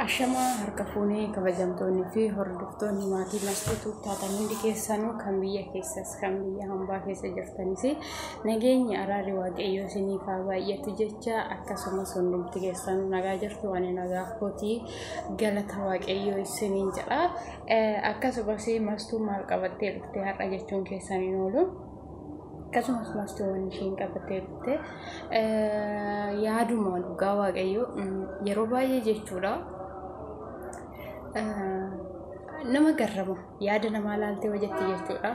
Ashamaa harka fuunee kabajamtoonni fi hordoftoonni maatii masquutu taatan hundi keessanuu kan biyya keessas kan biyya hambaa keessa jirtanis nageenyi araarri waaqayyoo isiniif haa baay'atu jecha akkasumas hundumti keessanuu nagaa jirtu ani nagaa kootii galata waaqayyoo isiniin jedha akkasumas mastuu maal qabattee dhufte har'a jechuun keessaniin oolu. akkasumas maastawwan isheen qabattee dhufte yaaduma dhugaa waaqayyoo yeroo baay'ee jechuudha nama garrama yaada namaa laaltee hojjette jechuudha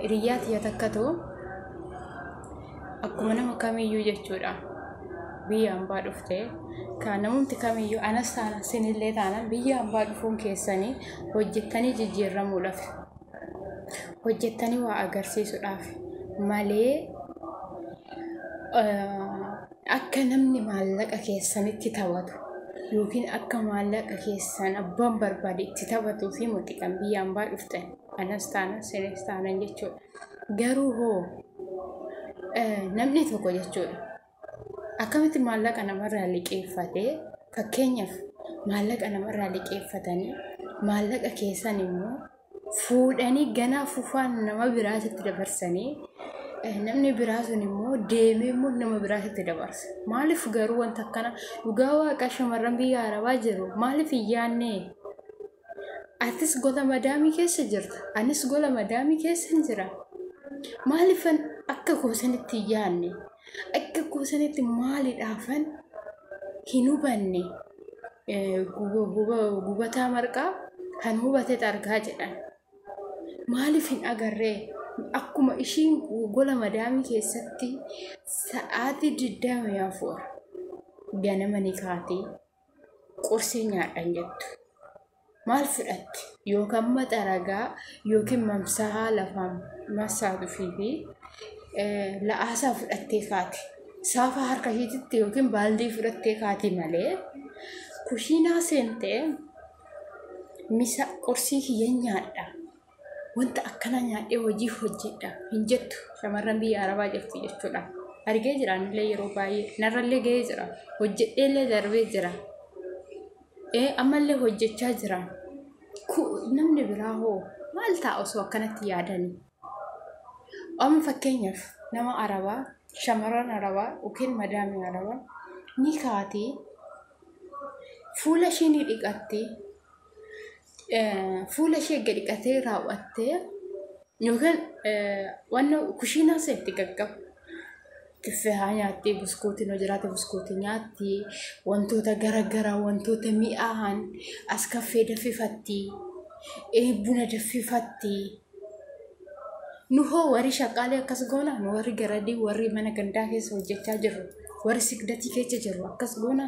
hiriyyaa tiyya takka ta'u akkuma nama kamiyyuu jechuudha biyya hambaa dhufte kan namumti kamiyyuu anas taana sinillee taana biyya hambaa dhufuun keessanii hojjettanii jijjiirramuudhaaf hojjettanii waa agarsiisuudhaaf malee akka namni maallaqa keessanitti taphatu yookiin akka maallaqa keessan abbaan barbaade itti taphatuu fi muxiqan biyya ambaa dhuftan anas taana sinis taanan jechuudha. Garuu hoo namni tokko jechuudha. akkamitti maallaqa namarraa liqeeffate fakkeenyaaf maallaqa namarraa liqeeffatanii maallaqa keessan immoo fuudhanii ganaa fufaan nama biraatitti dabarsanii namni biraa sun immoo deemee immoo nama biraatitti dabarsa maaliif garuu wanta akkana dhugaa waaqa shamarran biyya arabaa jiru maaliif hin yaannee Atis gola madaamii keessa jirta. Anis gola madaamii keessan jira. Maaliifan akka koo sanitti hin yaadne? Akka koo sanitti maaliidhaafan hin hubanne? Eh, guba- guba- Gubataa marqaa kan hubatetu argaa jedhan. Maaliif hin agarree? Akkuma ishiin gola madaamii keessatti sa'aatii 24 ganama ni kaatee qursii nyaadhan jettu. Maal fudhatti? Yookaan maxa ragaa yookiin mamsahaa lafaan massaatufii fi la'aasaa fudhattee kaati. Saafaa harka ishiititti yookiin baaldii fudhattee kaati malee kushiinaa seentee misa qursii kiyya nyaadha wanta akkanaa nyaadhee hojii hojjedha hin jettu shamarran biyya arabaa jirtu jechuudha. Argee jira anillee yeroo baay'ee narrallee ga'ee jira hojjedheellee darbee jira. Ee ammallee hojjechaa jira. Namni biraa hoo maal ta'a osoo akkanatti yaadanii? Amma fakkeenyaaf nama arabaa shamarran arabaa yookiin madaamii arabaa ni kaatee fuula ishii ni dhiqatti fuula ishee gadi dhiqatee raawwattee yookaan wanna kushiinaa seetti gaggaba. Kiffee haa nyaatti, buskuutiin yoo jiraate buskuutii nyaatti, wantoota garaagaraa wantoota mi'aahan as kaffee daffifatti, buna daffifatti. Nu hoo warri shaqaalee akkas goona, nu warri garadii warri mana gandaa keessa hojjechaa jirru, warri sigdatii keessa jirru akkas goona.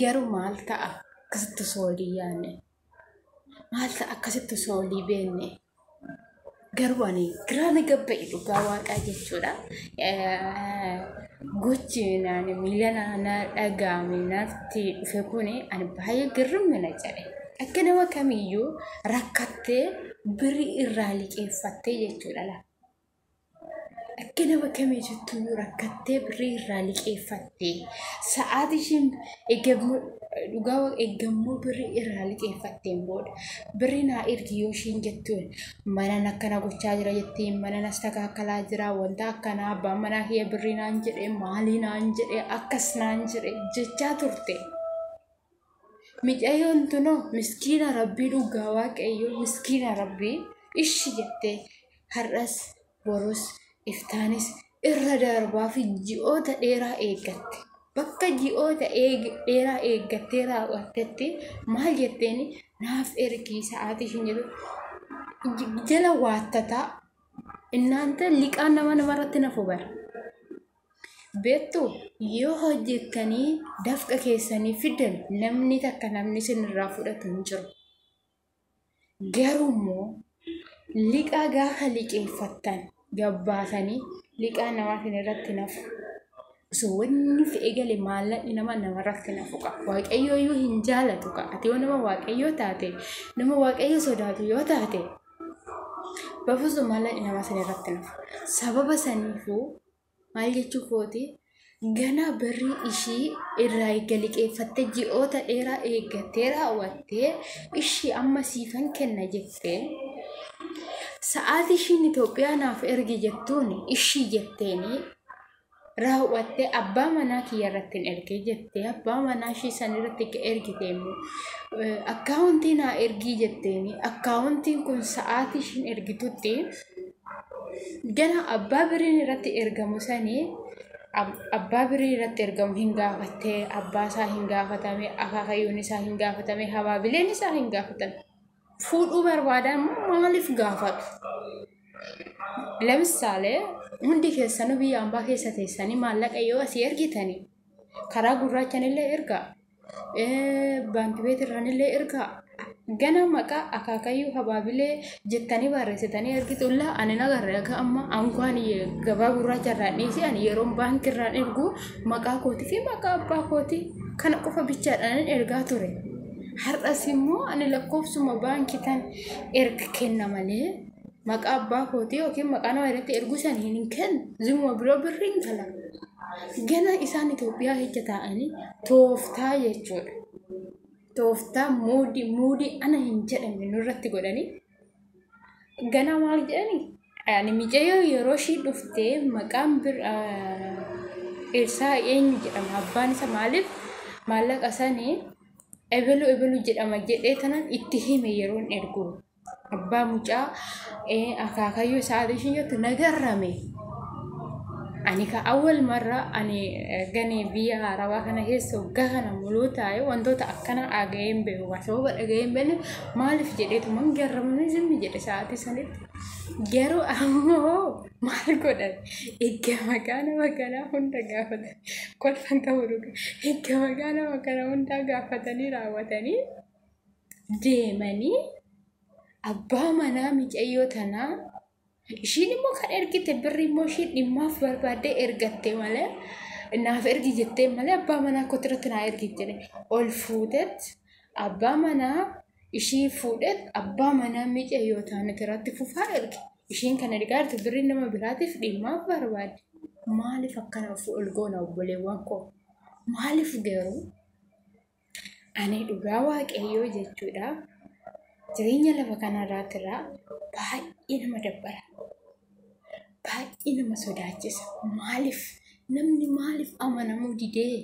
Garuu maal ta'a akkasitti osoo walii yaanne? Maal ta'a akkasitti osoo walii beenne? Garuu ani giraa na gabba'e dhugaa waaqaa jechuudha. Gochi naan miilana na dhaga'ame natti dhufe kun ani baay'ee girrimmi na jedhe. Akka nama kamiyyuu rakkattee birrii irraa liqeeffattee jechuudha laata? Akka nama kamii jettuu yoo rakkattee birrii irraa liqeeffatte sa'aatii ishiin eegammoo dhugaa waaqa eegammoo birrii irraa liqeeffatteen booda birrii naa ergi yoo ishiin jettuun manan akkana gochaa jira jettee manan as takaakalaa jira wanta akkanaa abbaan manaa kiyya birrii naan jedhe maalii naan jedhe akkas naan jedhe jechaa turte. Micayoon tunoo miskiina rabbii dhugaa waaqayyoo miskiina rabbii ishi jettee har'as borus iftaanis irra darbaa fi ji'oota dheeraa eeggatte. Bakka ji'oota dheeraa eeggattee raawwattetti maal jetteen naaf ergii sa'aatii ishiin jedhu jala waattataa innaanta liqaan nama namarratti nafu bara. Beektu yoo hojjettanii dafqa keessanii fiddan namni takka namni isinirraa fudhatu hin jiru. Garuu immoo liqaa gaafa liqeeffattan gabbaatanii liqaa namaa isin irratti nafu. Osoo wanni fi eegale maallaqni nama namarratti nafu qaba. Waaqayyoo iyyuu hin jaalatu qaba. Ati yoo nama waaqayyoo taate nama waaqayyo sodaatu yoo taate bafuusu maallaqni nama isin irratti nafu. Sababa saniifuu Maal jechuu kooti ganaa barrii ishii irraa eegga liqeeffattee ji'oota dheeraa eeggattee raawwattee ishii amma siifan kenna jettee sa'aatii ishiin Itoophiyaa naaf ergi jettuun ishii jetteenii raawwattee abbaa manaa kiyya irratti hin ergee jettee abbaa manaa ishii san irratti akka ergite immoo akkaawuntii naa ergii jetteenii akkaawuntiin kun sa'aatii ishiin ergitutti gara abbaa biriin irratti ergamu sanii abbaa birii irratti ergamu hin gaafatte abbaa isaa hin gaafatame akaakayyuun isaa hin gaafatame habaabileen isaa hin gaafatame fuudhuu barbaadan maaliif gaafatu ለምሳሌ hundi keessanuu biyya ambaa keessa teessanii maallaqa yoo asii ergitanii karaa gurraachanillee ergaa baanki beet irraanillee ergaa gana maqaa akaakayyuu habaabilee jettanii barreessitanii ergitu illaa ani nagarre akka amma ankwaan gabaa gurraacha irraan dhiisee ani yeroon baanki irraan ergu maqaa kootii fi maqaa abbaa kootii kana qofa bichaadhaan ergaa ture har'as immoo ani lakkoofsuma baankii tan erga kenna malee maqaa abbaa kootii yookiin maqaa nama irratti erguu san hin kennu zimuma biroo birri hin kala gana isaan Itoophiyaa keessa taa'anii tooftaa jechuudha tooftaa muudii muudii ana hin jedhamne nurratti godhanii gana maal jedhani ani micayyoo yeroo ishii dhuftee maqaan bir ibsaa eenyu jedhama abbaan isa maaliif maallaqa sanii ebelu ebelu jedhama jedhee tanan itti hime yeroon ergu Abbaa mucaa akaakayyuu isaatii ishiin jettu na garrame. Ani ka awwal marra ani gani biyya arabaa kana keessa waggaa kana muluu taa'e wantoota akkana dhaga'ee hin beeku. Kan sababa dhaga'ee hin beekne maaliif jedheetuman garramamee zimmi jedhe sa'aatii sanitti. Garuu ammoo maal godhan egaa maqaa nama kanaa hunda gaafatan kolfan qabu dhuga egaa maqaa nama kanaa hundaa gaafatanii raawwatanii. deemanii abbaa manaa micayyoo tanaa ishiin immoo kan ergite birri immoo ishiin dhimmaaf barbaaddee ergatte malee naaf ergi jettee malee abbaa manaa kootti irratti naa ergi jedhe ol fuutet abbaa manaa ishii fuudhet abbaa manaa micayyoo taaniti irratti fufaa erge ishiin kan ergaa jirtu birri nama biraatiif dhimmaaf barbaadde maaliif akkana of ol goona obboleewwan koo maaliif garuu Ani dhugaa waaqayyoo jechuudha. Jireenya lafa kanarraatti irraa baay'ee nama dabbara. Baay'ee nama sodaachisa. Maaliif? Namni maaliif amanamuu didee?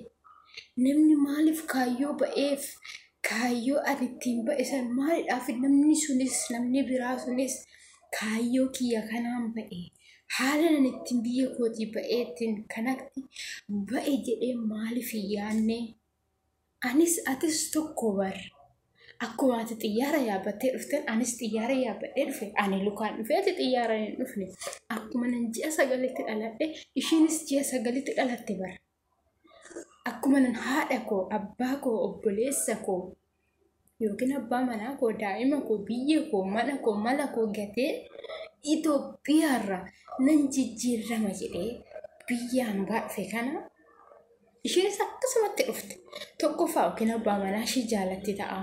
Namni maaliif kaayyoo ba'eef? Kaayyoo ani ittiin ba'e san maalidhaaf namni sunis namni biraa sunis kaayyoo kiyya kanaan ba'e? Haala ani ittiin biyya kootii ba'ee ittiin kanatti ba'e jedhee maaliif hin yaadne? Anis atis tokko bar. Akkuma ati xiyyaara yaabbattee dhufteen anis xiyyaara yaabbadhee dhufe. Ani lukaan dhufe ati xiyyaara hin dhufne. Akkuma nan ji'a sagalitti dhaladhe ishiinis ji'a sagalitti dhalatte bar. Akkuma nan haadha koo, abbaa koo, obboleessa koo yookiin abbaa manaa koo daa'ima koo biyya koo mana koo mala koo gatee Itoophiyaarra nan jijjiirrama jedhee biyyaan baadhe kana isheenis akkasumatti dhufte tokkoffaa yookiin abbaa manaa ishii jaalatti ta'a.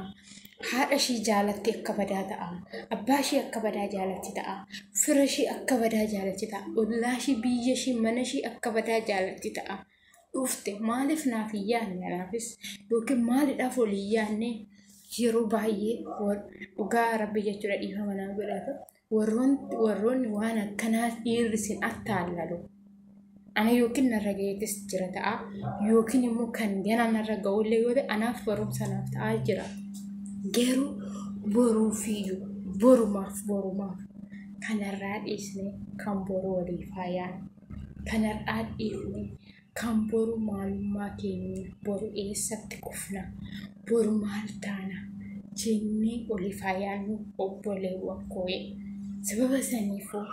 Haadha ishii jaalatti akka badaa ta'a. Abbaa ishii akka badaa jaalatti ta'a. Fira ishii akka badaa jaalatti ta'a. Ollaa ishii biyya ishii mana ishii akka badaa jaalatti ta'a. dhufte maaliif naaf hin yaadne anaafis yookiin maalidhaaf ol hin yaadne yeroo baay'ee dhugaa rabbi jechuudha dhiifama naa godhata warroonni waan akkanaa dhiirri sin attaallalu ana yookiin narra gaheetis jira ta'a yookiin immoo kan gana narra ga'ullee yoo ta'e anaaf barumsa naaf ta'aa jira garuu boruufiyyuu borumaaf borumaaf kanarraa dhiisne kan boru waliif haa yaadnu. Kan har'aa dhiifne, kan boru maalummaa keenya, boru eessatti kufna, boru maal taana jennee oliif haa yaadnu obboleewwan koo'ee. Sababa saniifuu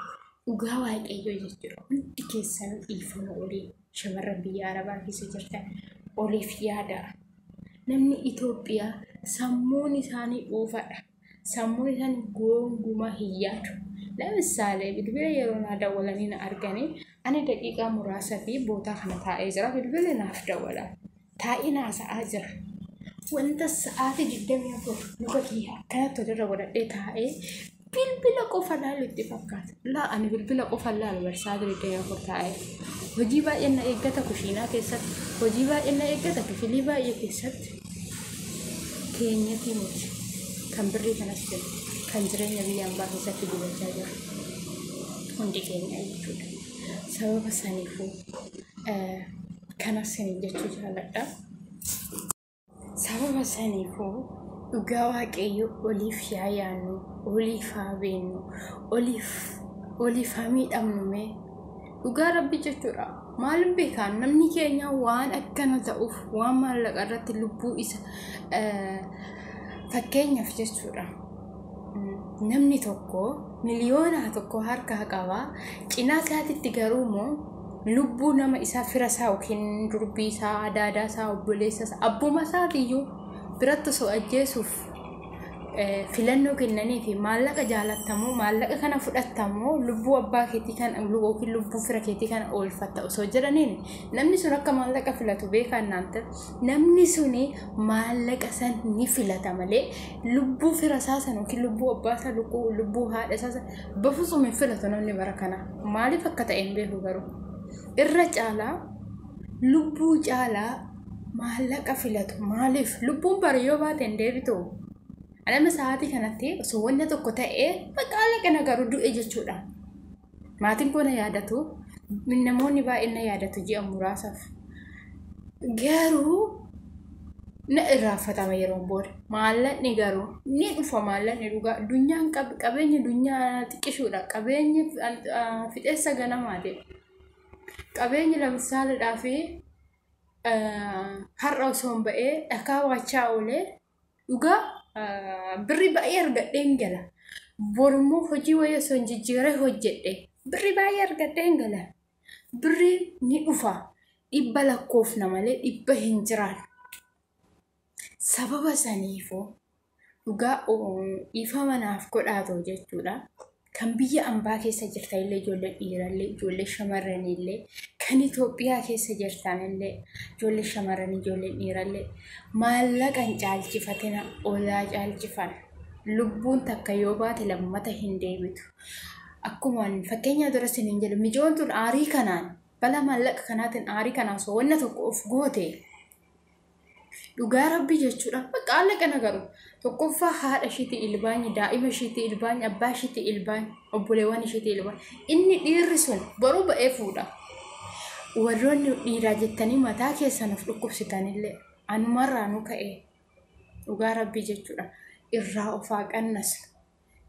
dhugaa waaqayyoo jechuudha hundi keessan dhiifama olii shamarran biyya arabaa keessa jirtan oliif yaadaa. Namni Itoophiyaa sammuun isaanii dhuufadha. sammuu isaan gongumaa hin yaadu. Lamisaalee bilbila yeroo naa dawwalanii na arganii ani daqiiqaa muraasa fi bootaa kana taa'ee jira bilbila naaf dawwala. Taa'ee naa sa'aa jira. Wanta sa'aatii digdamii afur luka kiyya akkanatti walirra godhadhee taa'ee bilbila qofa laalu itti fakkaata. Laa ani bilbila qofa laalu bar sa'aatii digdamii afur taa'ee. Hojii baay'een na eeggata kushiinaa keessatti. Hojii baay'een na eeggata kifilii baay'ee keessatti. keenyatii miti kan birrii kanas jennu kan jireenya biyya ambaa keessatti gubachaa jiru hundi keenya jechuudha. Sababa saniifuu eh, kanas siniin jechuu jaaladha. Sababa saniifuu dhugaa waaqayyo oliif yaa yaannu, oliif haa beennu, oliif oliif haa miidhamnu mee Dhugaa rabbi jechuudha. Maalin beekaan namni keenya waan akkana ta'uuf waan maallaqa irratti lubbuu isa fakkeenyaaf jechuudha. Namni tokko miliyoonaa tokko harkaa qaba. Cinaa isaatitti garuu immoo lubbuu nama isaa fira isaa yookiin durbii isaa, adaadaa isaa, obboleessa isaa, abbuma isaatiyyuu biratti osoo ajjeesuuf filannoo kennanii fi maallaqa jaalattamoo maallaqa kana fudhattamoo lubbuu abbaa keetii kan yookiin lubbuu fira keetii kana oolfatta osoo jedhaniin namni sun akka maallaqa filatu beekaa naanta namni suni maallaqa san ni filata malee lubbuu fira isaa san yookiin lubbuu abbaa isaa lubbuu haadha isaa san bafusuun hin filatu namni bara kana maaliif akka ta'e hin beeku garuu irra caalaa lubbuu caalaa maallaqa filatu maaliif lubbuun bari yoo baate hin deebitu anama sa'aatii kanatti osoo wanna tokko ta'ee maqaallaqa na garuu du'e jechuudha maatiin koo na yaadatu namoonni baay'een na yaadatu ji'a muraasaaf garuu na irraanfatama yeroo booda maallaqni garuu ni dhufa maallaqni dhugaa addunyaan qabeenya addunyaa xiqqishuudha qabeenya fixeessa ganamaati qabeenya lamsaalidhaa fi har'a osoo hin ba'ee dhakaa waachaa oolee dhugaa birrii baay'ee argadhee hin gala. Borummoo hojii wayii osoo hin jijjiiree hojjedhe birrii baay'ee argadhee hin gala. Birrii ni dhufa dhibba lakkoofna malee dhibba hin jiraatu. Sababa saniifuu dhugaa dhiifama naaf godhaa ta'u jechuudha. Kan biyya ambaa keessa jirtan illee ijoollee dhiirallee ijoollee shamarranii illee kan Itoophiyaa keessa jirtan illee ijoollee shamarranii ijoollee dhiirallee maallaqa hin caalchifatina olaa caalchifan lubbuun takka yoo baate lammata hin deebitu. Akkuma fakkeenyaa dura isin hin jedhu micoon tun aarii kanaan bala maallaqa kanaatiin aarii kanaan soowwanna tokko of goote. Dhugaa rabbii jechuudha. Bakka haalaqa nagaru. Tokkoffaa haadha ishiitii ilbaanyi, daa'ima ishiitii ilbaanyi, abbaa ishiitii ilbaanyi, obboleewwan ishiitii ilbaanyi. Inni dhiirri sun boruu ba'ee fuudha. Warroonni dhiiraa jettanii mataa keessan of dhukkubsitanillee anumarraa nu ka'e dhugaa rabbii jechuudha. Irraa of haa qannasu.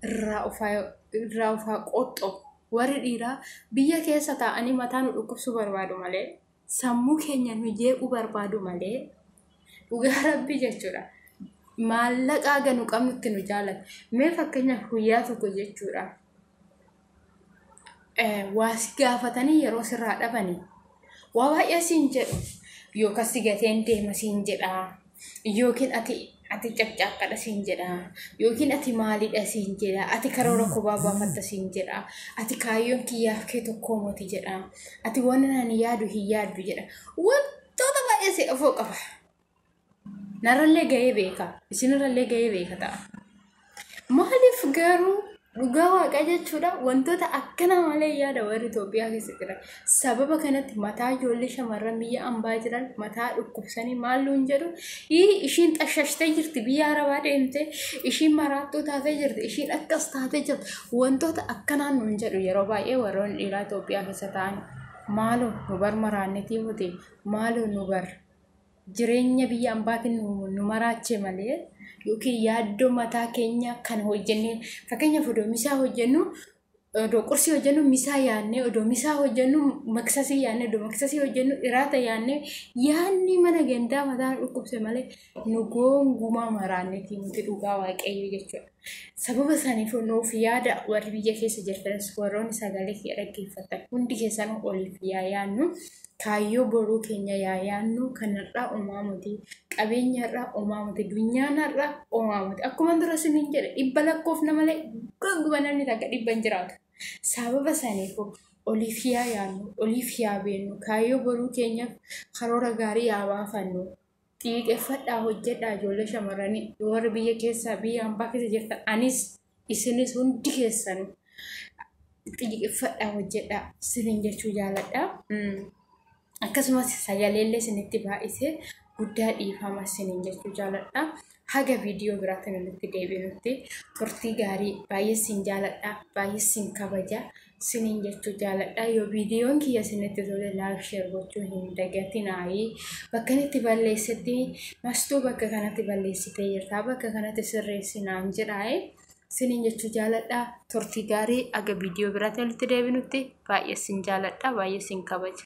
Irraa of haa irraa of haa qoxxo. Warri dhiiraa biyya keessa taa'anii mataa nu dhukkubsuu barbaadu malee sammuu keenya nu jeequu barbaadu malee dhugaa rabbii jechuudha. Maallaqa haga nu qabnutti nu jaalata. Mee fakkeenyaaf guyyaa tokko jechuudha. Waa si gaafatanii yeroo sirraa dhabanii waa baay'ee siin jedhu yookaan si gateen deema siin jedhaa. yookiin ati ati caqcaaqqadha siin jedha yookiin ati maalidha siin jedha ati karoora kophaa baafatta siin jedha ati kaayyoon kiyyaaf kee tokkoo moti jedha ati waan ani yaadu hin yaaddu jedha wantoota baay'ee si dhufuu qaba narrallee ga'ee beeka isinirrallee ga'ee beeka ta'a. Maaliif garuu dhugaa waaqa jechuudha wantoota akkana malee yaada warri Itoophiyaa keessa jiran. Sababa kanatti mataa ijoollee shamarran biyya ambaa jiran mataa dhukkubsanii maal nuun jedhu "Ii, ishiin xashashtee jirti biyya arabaa deemtee ishiin maraattuu taatee jirti ishiin akkas taatee jirti wantoota akkanaa nuun jedhu yeroo baay'ee warroonni dhiiraa Itoophiyaa keessa ta'an maaloo nu bar maraannetii hote maaloo nu bar jireenya biyya ambaatiin nu maraachee malee yookiin yaaddoo mataa keenya kan hojjennee fakkeenyaaf odoo misaa hojjennu odoo qursii hojjennu misaa yaannee odoo misaa hojjennu maksasii yaannee odoo maksasii hojjennu iraata yaannee yaanni mana gandaa mataa nu dhukkubse malee nu goongumaa maraanneetii nuti dhugaa waaqayyo jechuudha. Sababa isaaniif nuuf yaada warri biyya keessa jirtanis warroonni sagalee kee dhaggeeffatan hundi keessan oliif yaa yaannu Kaayyoo boruu keenya yaa yaannu kan har'aa omaa miti. Qabeenyi har'aa omaa miti. Dunyaan har'aa omaa miti. Akkuma dura siniin jedhe dhibba lakkoofna malee ganguma namni takka dhibba hin jiraatu. Sababa saniifuu oliif yaa yaannu, oliif yaa beennu, kaayyoo boruu keenyaaf karoora gaarii yaa baafannu. Xiiqeffadhaa hojjedhaa ijoollee shamarranii warri biyya keessaa biyya hambaa keessa jirtan anis isinis hundi keessan xiiqeffadhaa hojjedhaa isiniin jechuu jaaladha. Akkasumas sagaleellee isinitti baay'isee guddaa dhiifama isiniin jechuu jaaladha. Haga viidiyoo biraatiin walitti deebinutti turtii gaarii baay'ee siin jaaladha baay'ee siin kabaja siniin jechuu jaaladha yoo viidiyoon kiyya isinitti tole laayik sheer gochuu hin dagatinaayii bakkan itti balleessetti mastuu bakka kanatti balleessitee jirtaa bakka kanatti sirreessi naan jedhaayee siniin jechuu jaaladha turtii gaarii haga viidiyoo biraatiin walitti deebinutti baay'ee siin jaaladha baay'ee siin kabaja.